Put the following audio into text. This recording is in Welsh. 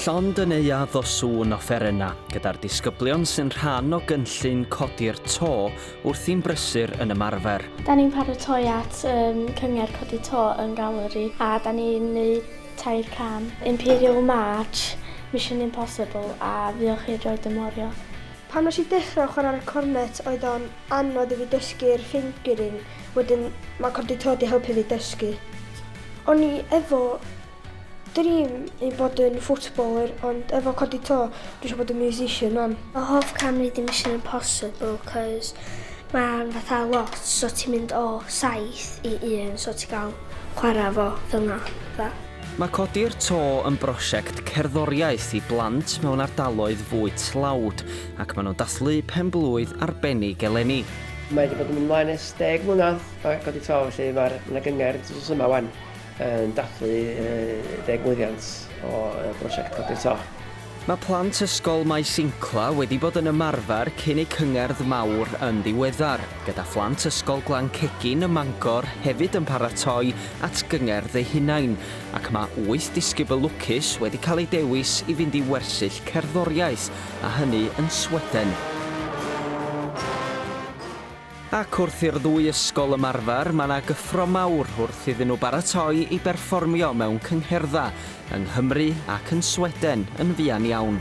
Llond y neuadd o sŵn offerenna gyda'r disgyblion sy'n rhan o gynllun codi'r to wrth i'n brysur yn ymarfer. Da ni'n paratoi at um, cyngerdd codi to yn galeri a da ni'n neud tair can. Imperial March, Mission Impossible a Fuoch chi'n Droed y Morio. Pan nes i dechrau chwarae ar y cornet oedd o'n Anodd i fi dysgu'r fingering wedyn ma codi to di helpu fi dysgu. O'n i efo dream i bod yn footballer ond efo codi to dwi isio bod yn musician rwan. Fy hoff cam neud y Mission Impossible cos ma'n fatha lot so ti'n mynd o saith i un so ti'n ga'l chwara fo felna fatha. Mae codi'r to yn brosiect cerddoriaeth i blant mewn ardaloedd fwy tlawd. ac maen nhw'n dathlu pen-blwydd arbennig eleni. Mae wedi bod yn mynd mlaen ers deg mlynedd o Egod y Taw, felly mae'r yna gyngor drws yma wan yn dathlu deg mlynedd o brosiect Codi'r Taw. Mae plant ysgol Maes Incla wedi bod yn ymarfer cyn eu cyngerdd mawr yn ddiweddar, gyda phlant ysgol Glan Cegin ym Mangor hefyd yn paratoi at gyngerdd eu hunain, ac mae wyth disgybl lwcus wedi cael eu dewis i fynd i wersyll cerddoriaeth a hynny yn Sweden. Ac wrth i'r ddwy ysgol ymarfer, mae 'na gyffro mawr wrth iddyn nhw baratoi i berfformio mewn cyngherdda yng Nghymru ac yn Sweden yn fuan iawn.